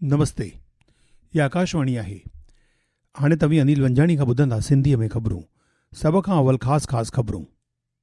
نمستي يا آڪاشواڻي آهي هاڻي توهين انيل ونجاڻي کان ٻڌندا سنڌي ۾ خبرون سڀ کان اول خاص خاص خبرون.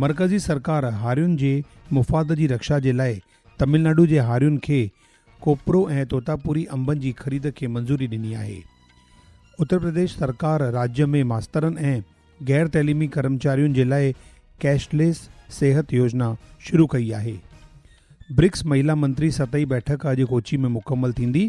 مرڪزي سرڪار هارين جي مفاد جي رڪشا جي لاء تمل ناڊو جي هارين کي ڪوپرو ۽ توتاپوري انبن جي خريد کي منظوري ڏني آهي. اترپرديش سرڪار راڄ ۾ ماسترن ۽ غير تعليمي ڪرمچارين جي لاء ڪيش ليس صحت يوجنا شروع ڪئي آهي. برڪس مهيلا منتري سطحي بيٺڪ اڄ ڪوچي ۾ مڪمل ٿيندي،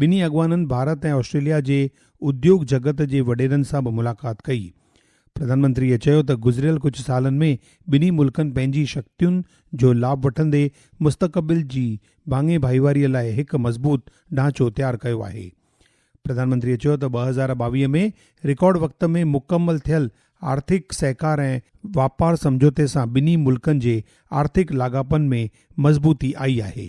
ٻنهي اڳواڻن ڀارت ۽ آسٽريليا جي اديوگ جڳت جي وڏيرن سان به ملاقات ڪئي. پرڌانمنتريء چيو ته گذريل ڪجهه سالن ۾ ٻنهي ملڪن پنهنجي شڪتين جو لاڀ وٺندي مستقبل جي ڀاڱي ڀائيواريء لاء هڪ مضبوط ڍانچو تيار ڪيو آهي. پرڌانمنتريء چيو ته ٻه هزار ٻاويهه ۾ رڪارڊ وقت ۾ مڪمل ٿيل آرٿڪ سهڪار ۽ واپار سمجهوتي سان ٻنهي ملڪن جي آرٿڪ لاڳاپن ۾ مضبوطي آئي آهي.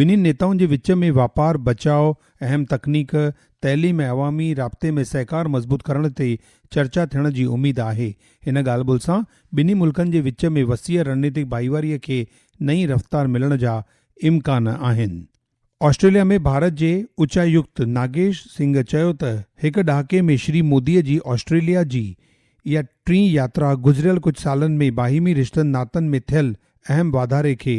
ٻنهي نيتائن جي وچ ۾ واپار، بچاء، اهم تڪنيڪ، تعليم ۽ عوامي رابطي ۾ سهڪار مضبوط ڪرڻ تي چرچا ٿيڻ جي اميد آهي. هن ڳالهه ٻولهه سان ٻنهي ملڪن جي وچ ۾ وسيع رڻنيتڪ ڀائيواري کي نئين رفتار ملڻ جا امڪان آهن. آسٽريليا ۾ ڀارت جي اچايڪت ناگيش سنگهه چيو ته هڪ ڏهاڪي ۾ شري مودي جي آسٽريليا جي اها ٽين ياترا گذريل ڪجهه سالن ۾ باهمي رشتن ناتن ۾ ٿيل اهم واڌاري کي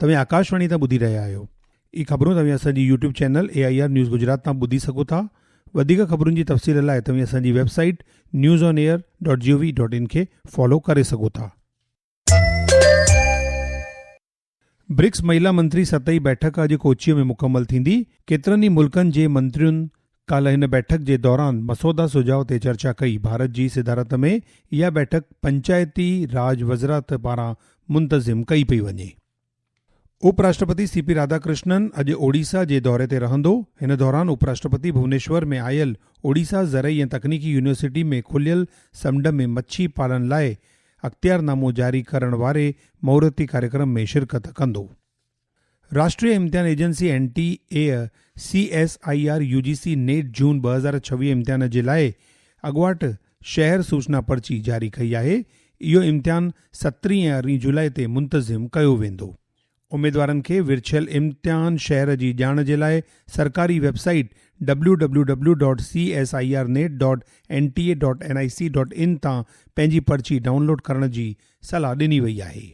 توهين آڪاش واڻي تان ٻڌي رهيا آهيو. هي خبرون توهين اسان جي YouTube channel A I R news Gujarat تان ٻڌي سگهو ٿا. وڌيڪ خبرن جي تفصيل لاء توهين اسان جي website news on air dot G O V dot in کي فالو ڪري سگهو ٿا. برڪس مهيلا منتري سطحي بيٺڪ اڄ ڪوچيء ۾ مڪمل ٿيندي، ڪيترن ئي ملڪن جي منترين، ڪالهه هن بيٺڪ جي دوران مسوده سجهاء تي چرچا ڪئي، ڀارت جي صدارت ۾ اها بيٺڪ پنچائتي راڄ وزرات پاران منتظم ڪئي پئي وڃي. اپ راشٽرپتي سي پي راڌاڪرشنن اڄ اوڙيسا جي دوري تي رهندو، هن دوران اپ راشٽرپتي ڀونيشور ۾ آيل اوڙيسا زرعي ۽ تڪنيڪي يونيورسٽي ۾ کليل سمنڊ ۾ مڇي پالن لاء اختيارنامو جاري ڪرڻ واري مهورتي ڪاريڪرم ۾ شرڪت ڪندو. راشٽري امتحان agency, N T A, C S I R, U G C NET June ٻه هزار ڇويهه امتحان جي لاء اڳواٽ شهر سوچنا پرچي جاري ڪئي آهي، اهو امتحان سترهين ۽ ارڙهين جولاء تي منتظم ڪيو ويندو. اميدوارن کي ورڇيل امتحان شهر جي ڄاڻ جي لاء سرڪاري website W W W dot C S I R NET dot N T A dot N I C dot in تان پنهنجي پرچي ڊائونلوڊ ڪرڻ جي صلاح ڏني وئي آهي.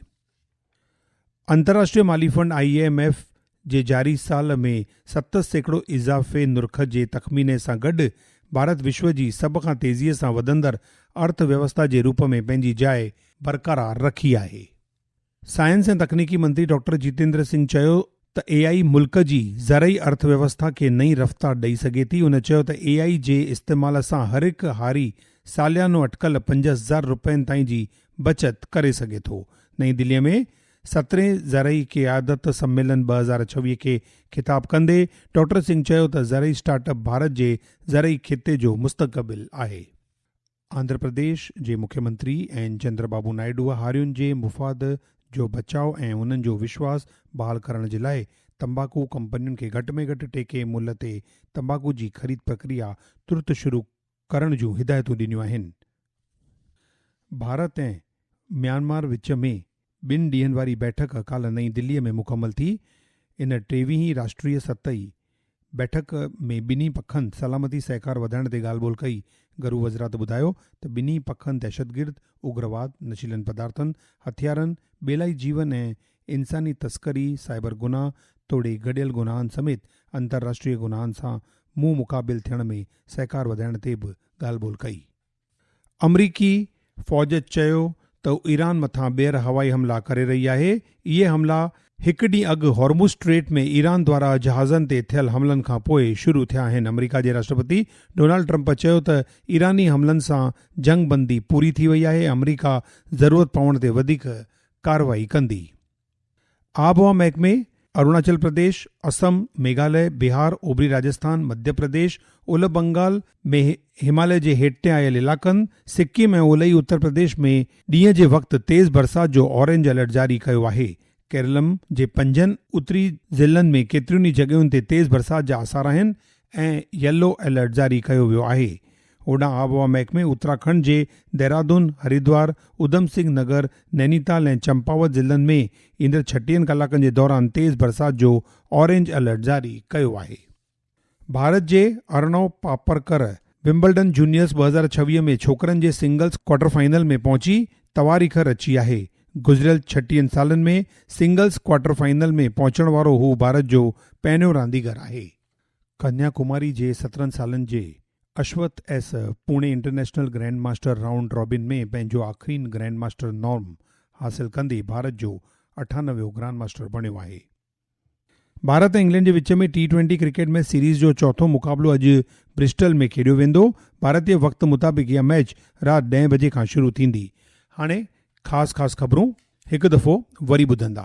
انترراشٽري مالي فنڊ، آء ايم ايف، جي جاري سال ۾ ست سيڪڙو اضافي نرخ جي تخميني سان گڏ ڀارت وشو جي سڀ کان تيزيء سان وڌندڙ ارٿ ويوسٿا جي روپ ۾ پنهنجي جاء برقرار رکي آهي. سائنس ۽ تڪنيڪي منتري ڊاڪٽر جيتيندر سنگهه چيو ته اي آئي ملڪ جي زرعي ارٿ ويوسٿا کي نئين رفتار ڏئي سگهي ٿي، هن چيو ته اي آئي جي استعمال سان هر هڪ هاري ساليانو اٽڪل پنج زر رپين تائين جي بچت ڪري سگهي ٿو، نئين دلي ۾ سترهين زرعي قيادت سميلن ٻه هزار ڇويهه کي خطاب ڪندي ڊاڪٽر سنگهه چيو ته زرعي اسٽارٽ اپ ڀارت جي زرعي خطي جو مستقبل آهي. آنڌرا پرديش جي مکيمنتري اين چندرا بابو نائيڊوء هارين جي مفاد جو بچاء ۽ انهن جو وشواس بحال ڪرڻ جي لاء تمباڪو ڪمپنين کي گهٽ ۾ گهٽ ٽيڪي ملهه تي تمباڪو جي خريد پرڪريا ترت شروع ڪرڻ جون هدايتون ڏنيون آهن. ڀارت ۽ ميانمار وچ ۾ ٻن ڏينهن واري بيٺڪ ڪالهه نئين دلي ۾ مڪمل ٿي، ان ٽيويهين راشٽري ستهئي بيٺڪ ۾ ٻنهي پکن سلامتي سهڪار وڌائڻ تي ڳالهه ٻولهه ڪئي، گهرو وزرات ٻڌايو ته ٻنهي پکن دهشتگرد، اگرواد، نشيلن پدارٿن، هٿيارن، ٻيلائي جيون ۽ انساني تسڪري، سائبر گناهه توڙي گڏيل گناهن سميت انترراشٽري گناهن سان منهن مقابل ٿيڻ ۾ سهڪار وڌائڻ تي به ڳالهه ٻولهه ڪئي. آمريڪي فوج چيو ته هو ايران مٿان ٻيهر هوائي حملا ڪري رهي آهي، اهي حملا هڪ ڏينهن اڳ هارمز اسٽريٽ ۾ ايران دوارا جهازن تي ٿيل حملن کان پوء شروع ٿيا آهن، آمريڪا جي راشٽرپتي ڊونالڊ ٽرمپ چيو ته ايراني حملن سان جنگ بندي پوري ٿي وئي آهي، آمريڪا ضرورت پوڻ تي وڌيڪ ڪارروائي ڪندي. آبهوا محڪمي اروناچل پرديش، اسم، ميگهاليه، بهار، اوڀري راجسٿان، مڌيه پرديش، اولهه بنگال ۾ هماليه جي هيٺتي آيل علائقن، سڪم ۽ اولهي اتر پرديش ۾ ڏينهن جي وقت تيز برسات جو اورينج الرٽ جاري ڪيو آهي. ڪيرلم جي پنجن اتري ضلعن ۾ ڪيترين ئي جڳهين تي تيز برسات جا آثار آهن ۽ يلو الرٽ جاري ڪيو ويو آهي. هوڏانهن آبهوا محڪمي اتراکنڊ جي دهرادون، هريدوار، اڌم سنگهه نگر، نينيتال ۽ چمپاوت ضلعن ۾ ايندڙ ڇٽيهن ڪلاڪن جي دوران تيز برسات جو آرينج الرٽ جاري ڪيو آهي. ڀارت جي ارڻو پاپرڪر ومبلڊن جونيئرز ٻه هزار ڇويهه ۾ ڇوڪرن جي سنگلز ڪوارٽر فائنل ۾ پهچي تواريخ رچي آهي. گذريل ڇٽيهن سالن ۾ سنگلز ڪوارٽر فائنل ۾ پهچڻ وارو هو ڀارت جو پهريون رانديگر آهي. ڪنيا ڪماري جي سترهن سالن جي Ashwath S Pune international grandmaster round robin ۾ پنهنجو آخرين گرينڊ ماسٽر نارم حاصل ڪندي ڀارت جو اٺانويهون گرانڊ ماسٽر بڻيو آهي. ڀارت ۽ انگلينڊ جي وچ ۾ T twenty cricket match series جو چوٿون مقابلو اڄ برسٽل ۾ کيڏيو ويندو، ڀارتي وقت مطابق اها ميچ رات ڏهين بجي کان شروع ٿيندي. هاڻي خاص خاص خبرون هڪ دفعو وري ٻڌندا.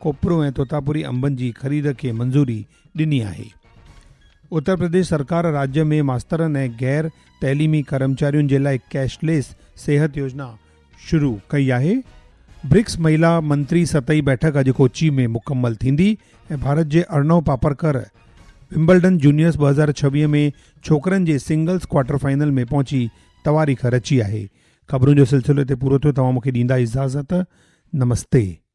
کوپرو ۽ توتاپوري انبن جي خريد کي منظوري ڏني آهي. اترپرديش سرڪار راڄ ۾ ماسترن ۽ غير تعليمي ڪرمچارين جي لاء ڪيش ليس صحت يوجنا شروع ڪئي آهي. برڪس مهيلا منتري سطحي بيٺڪ اڄ ڪوچي ۾ مڪمل ٿيندي ۽ ڀارت جي ارنو پاپرڪر ومبلڊن جونيئرز ٻه هزار ڇويهه ۾ ڇوڪرن جي سنگلز ڪوارٽر فائنل ۾ پهچي تواريخ رچي آهي خبرون جو سلسلو هتي پورو ٿيو توهان مونکي ڏيندا اجازت نمستي.